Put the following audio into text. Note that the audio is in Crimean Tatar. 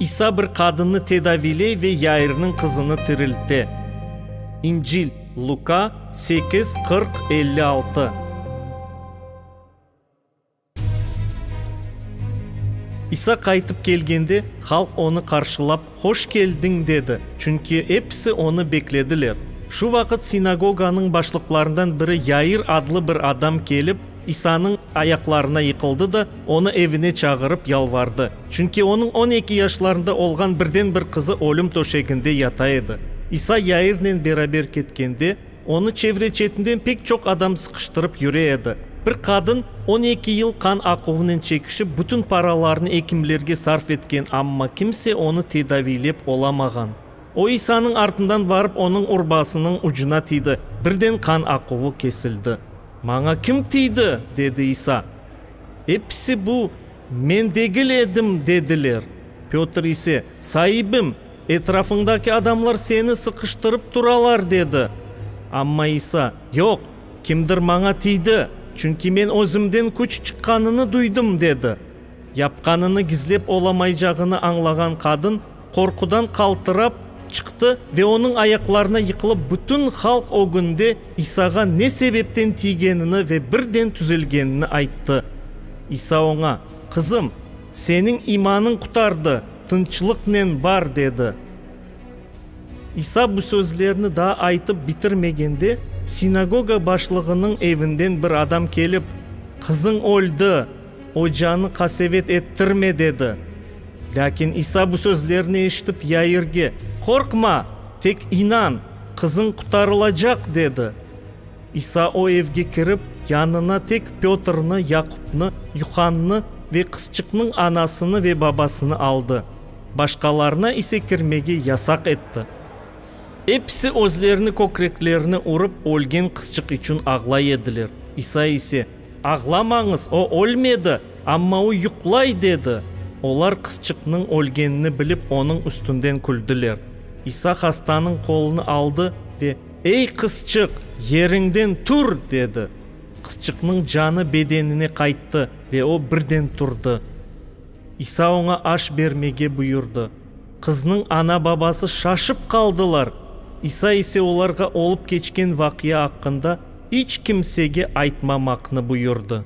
İsa bir qadınnı tedaviyley ve Yairniñ qızını tirilte. İncil, Luka, sekiz, qırq, elli altı. İsa qaytıp kelgende, halq onı qarşılap, Hoş keldiñ, dedi, çünki episi onı beklediler. Şu vaqıt sinagoganıñ başlıqlarından biri Yair adlı bir adam kelip, İsanıñ ayaqlarına yıqıldı da, onı evine çağırıp yalvardı, çünki onıñ on eki yaşlarında olğan birden-bir qızı ölüm töşeginde yata edi. İsa Yairnen beraber ketkende, Onı çevre-çetinden pek çoq adam sıqıştırıp yüre edi. Bir qadın on eki yıl qan aquvınen çekişip, bütün paralarını ekimlerge sarf etken, amma kimse onı tedaviylep olamağan. O İsanıñ artından barıp, onıñ urbasınıñ ucuna tiydi. Birden qan aquvı kesildi. Maña kim tiydi? dedi İsa. Episi bu, Men degil edim, dediler. Petr ise, Saibim! Etrafıñdaki adamlar seni sıqıştırıp turalar, dedi. Amma İsa, Yoq, kimdir maña tiydi, çünki men özümden küç çıqqanını duydım, dedi. Yapqanını gizlep olamaycağını añlağan qadın, qorqudan qaltırap, çıqtı ve onıñ ayaqlarına yıqılıp bütün halq ögünde İsağa ne sebepten tiygenini ve birden tüzelgenini ayttı. İsa oña, Qızım, seniñ imanıñ qutardı! Tınçlıqnen bar, dedi. İsa bu sözlerni daa aytıp bitirmegende, sinagoga başlığınıñ evinden bir adam kelip, Qızıñ öldi, ocanı qasevet ettirme, dedi. Lâkin İsa bu sözlerni eşitip, Yairge, Qorqma, tek inan, qızıñ qutarılacaq, dedi. İsa o evge kirip, yanına tek Pötrni, Yaqupnı, Yuhannı ve qızçıqnıñ anasını ve babasını aldı, başqalarına ise kirmege yasaq etti. Episi özlerini kökreklerine urıp, ölgen qızçıq içün ağlay ediler. İsa ise, Ağlamañız, o ölmedi, amma o yuqlay, dedi. Olar qızçıqnıñ ölgenini bilip, onıñ üstünden küldiler. İsa hastanıñ qolunı aldı ve. Ey, qızçıq, yeriñden tur! dedi. Qızçıqnıñ canı bedenine qayttı ve o birden turdı. İsa oña aş bermege buyurdı. Qıznıñ ana-babası şaşıp qaldılar. İsa ise olarğa olıp keçken vaqia aqqında iç kimsege aytmamaqnı buyurdı.